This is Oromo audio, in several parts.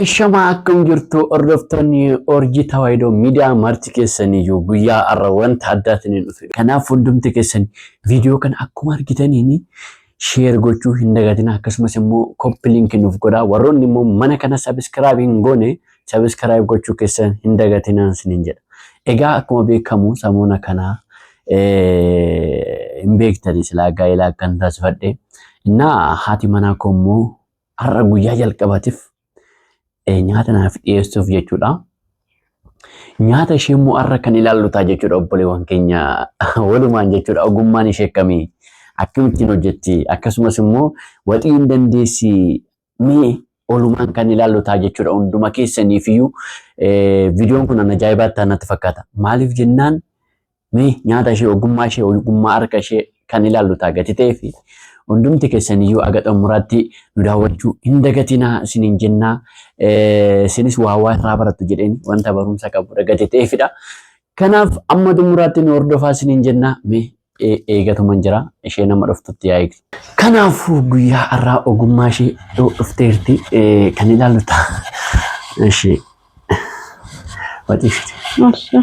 Ashamaa akkam jirtu hordoftoonni Orjii Tawaayidoo miidiyaa marti keessanii jiru guyyaa har'a wanta addaatiin hin dhufe. Kanaaf hundumti keessan viidiyoo kana akkuma argitaniin sheer gochuu hin dagatina akkasumas immoo koppi liinki nuuf godhaa warroonni immoo mana kana sabiskiraayib hin goone Sabiskiraayib gochuu keessan hin dagatinaan sinin jedha. Egaa akkuma beekamu samoona kanaa hin beektani silaa gaa'ela akkan taasifadhe. Innaa haati manaa koo immoo har'a guyyaa jalqabatiif nyaata naaf dhiyeessuuf jechuudha. Nyaata ishee immoo har'a kan ilaallu ta'a jechuudha obboleewwan keenya walumaan jechuudha ogummaan ishee akkamii akkamittiin hojjetti akkasumas immoo waxii hin dandeessi Mee olumaan kan ilaallu ta'a jechuudha hunduma keessaniifiyyuu viidiyoon kun an ajaa'ibaa ta'an natti fakkaata. Maaliif jennaan mee nyaata ishee ogummaa ishee ogummaa harka ishee kan ilaallu ta'a gati ta'ee fi hundumti keessaniyyuu aga xumuraatti nu daawwachuu hin dagatinaa isiniin jennaa isinis waa waa irraa barattu jedheen wanta barumsa qabudha gati ta'eefidha. Kanaaf amma xumuraatti nu hordofaa isiniin jennaa mee e- eegatuman jira ishee nama dhuftutti yaa eegdu. Kanaafuu guyyaa har'aa ogummaa ishee yoo dhufteerti eh, kan ilaallu ta'a. Ishee watii ishee.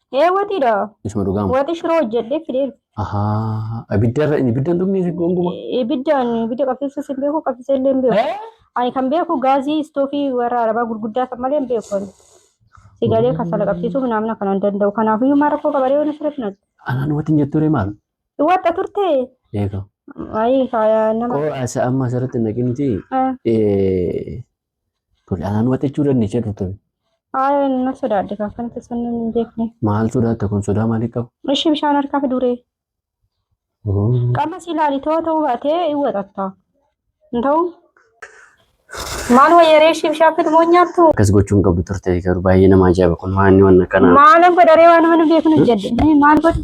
Ee waxiidha. Isuma dhugaa moo? Waxi shiroo hojjedhee fidee dhufe. Ahaa abiddarra inni ibiddan dhumni si gonguma. Ibiddaan ibidda qabsiisuus hin beeku qabsiisee illee hin beeku. Ani kan beeku gaazii istoofii warra arabaa gurguddaa san malee hin beeku. ani. Sigalee kasala qabsiisuu naamna kana hin danda'u. Kanaafiyyuu maal rakkoo qabaree waan sirrii finatu. Anaan watiin jettu ree maal? Waxxa turte. Eega. Ayii faayaa nama. Koo asa amma asirratti hin dhaqinti. Ah, Tole anaan waxachuu dandeessee turte. Haaya na sodaadde kan kan keessan namni hin beekne. Maal sodaatta kun sodaa maalii qaba? Ishii bishaan harkaa fi duree. Qama si ilaali too ta'uu baatee hin waxatta. Hin ta'u? Maal wayyaree ishii bishaan fidu moo nyaattu? Akkas gochuun qabdu turte garuu baay'ee nama ajaa'iba kun maanni waan akkanaa. Maalan godharee waan mana beeknu jedhe. Maal godhu?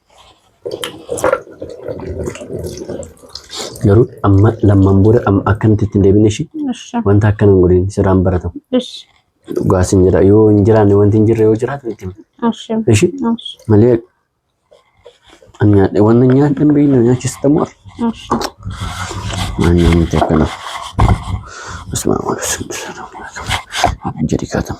Garuu amma lammaan booda amma akkanatti itti hin deebine ishii Ishi. wanta akkana hin godhin sirraan baratamu. Ishi. Dhugaa sin jedha yoo hin jiraanne wanti hin jirre yoo jiraatu itti himi. Ishi. Ishi Ishi. malee an nyaadhe wanta nyaadhe hin beekne nyaachista moo Ishi. maal nyaannuti akkana. Asmaa waan jedhi kaatamu.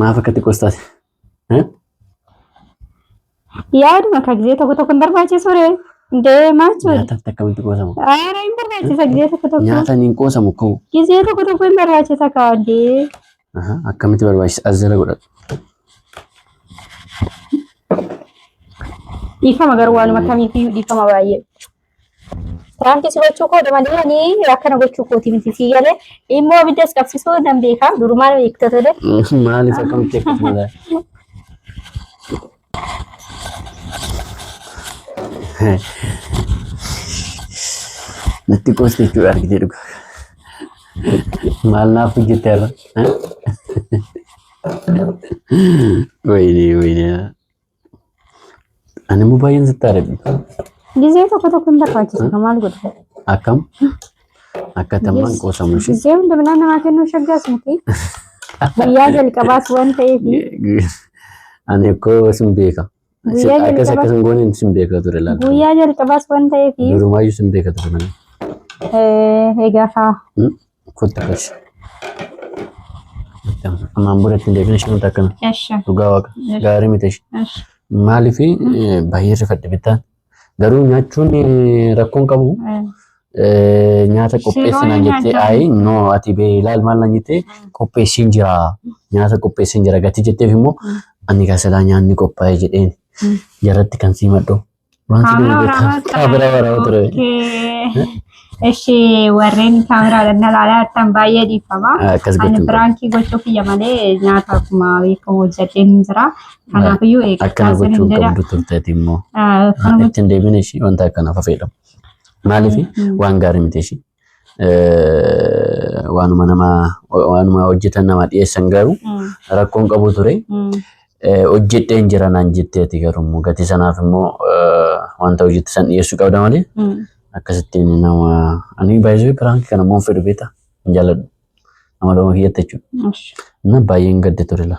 Maaf akkatti qoostaa? Yaaduma akka gizee tokko tokko hin barbaachisu ree. Deemaa jechuudha. Nyaataaf akkamitti qoosamu? Aara hin barbaachisa gizee tokko tokko. Nyaatan hin qoosamu koo. Gizee tokko tokko hin barbaachisa kaawwadee. Aha, Akkamitti barbaachisa? As jala godhadhu. Dhiifama garuu waanuma kamiifiyyuu dhiifama baay'ee. Piraankii si gochuu koodha malee ani akkana gochuu kooti miti si galee immoo abiddas qabsiisuu nan beekaa durumaan beekta tole. Maaliif akkamitti akkasuma ta'a? Natti qoosti jechuudha argitee dhugaa. Maal naaf hojjette irra? Wayinee wayinee. Ani immoo baay'een sitti aadadhi. Gizee tokko tokko hin barbaachisu kan maal godhu. Akkam? Akka tammaan qoosamu ishee. Gizee hunda midhaan namaa kennuu shaggaas miti. Guyyaa jalqabaas waan ta'eef Ani akkoo sin beeka. Guyyaa Akkas jalqabaa- akkas hin gooneen sin beeka ture laata. guyyaa jalqabaas waan ta'eef Durumaayyuu sin beeka ture. eh, egaa kaa Hmm? Kottu keessa. Ammaan booda ittiin deebina ishee wanta akkana. Eshi. Dhugaa waaqa. Yes. Gaarii miti ishee. Eshi. Maaliif baay'ee rifadhe bittaan. Garuu nyaachuun eh, rakkoo hin qabu. Eh, Nyaata qopheessi Shiroon naan jettee nyaachaa ayi no ati bee ilaal maal naan jettee qopheessiin jira. Nyaata qopheessiin jira gatii jetteef immoo ani gasalaa nyaanni qophaa'e jedheen Mm. jaratti kan sii madhu Kaamera waraabaa Kaamera waraabaa ture. Eshi warreen kaameraadhaan na ilaalaa jirtan baay'ee dhiifama. Akkas Ani gochuun biraankii gochuu kiyya malee nyaata akkuma beekamu hojjadheen hin jira. Kanaafiyyuu eegaa akkana sinin gochuun jedha. qabdu turteeti immoo. Ah, Kana gochuun Ittiin deebiin ishii wanta akkanaaf fayyadamu. Maaliif waan gaarii miti ishii. eh, waanuma nama waanuma hojjetan nama dhiyeessan garuu Mm. rakkoon qabu ture. Mm. Eh, hojjedheen jira naan jetteeti garuu gatii sanaaf immoo eh, wanta hojjette san dhiyeessuu qabda malee Mm. akkasittiin nama ani baay'ee piraanki kana immoo hin fedhu beektaa hin jaalladhu nama lama kiyyatti jechuudha Ush. na baay'een gadde ture la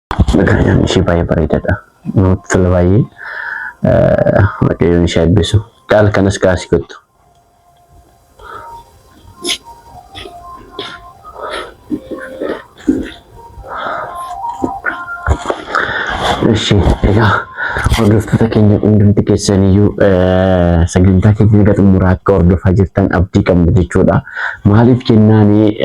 Magariidhaan ishee baay'ee bareedaadha. Namatti tola baay'ee. Waaqayyoon ishee eebbisu. Daal kanas gaasii kottu. Ishi egaa hordoftoota keenya hundumti keessaniyyuu sagantaa keenya egaa xumuraa akka hordofaa jirtan abdii qabna jechuudha. Maaliif jennaani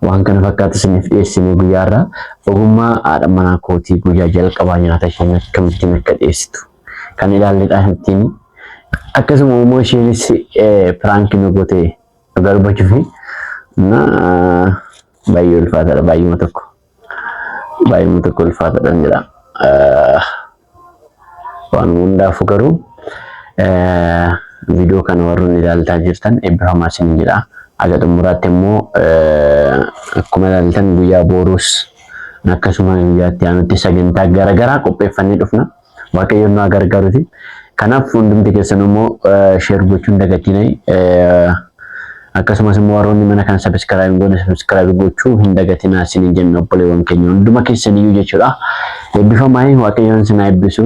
Waan kana fakkaatu isiniif dhiyeessinee guyyaa irraa ogummaa haadha manaa kootii guyyaa jalqabaa nyaata isheen akkamittiin akka dhiyeessitu kan ilaalledha ittiin akkasuma immoo isheenis piraanki nu gote dhugaa dubbachuuf na baay'ee ulfaataadha baay'eema tokko baay'ee nuti kolfaatadhan jedha. Waan hundaafuu garuu viidiyoo kana warroon ilaaltaa jirtan eebbifamaa isin jedha. Haga xumuraatti immoo akkuma ilaaltan guyyaa booruus akkasuma guyyaatti aanutti sagantaa garaagaraa qopheeffannee dhufna. Waaqayyoon nu haa gargaaruti. Kanaaf hundumti keessan immoo sheer gochuun dagatinai. Akkasumas immoo warroonni mana kana sabiskiraayib hin goone sabiskiraayib gochuu hin dagatinaa isiniin jenna obboleewwan keenya hunduma keessaniyyuu jechuudha. Eebbifamaa waaqayyoon isin haa eebbisu.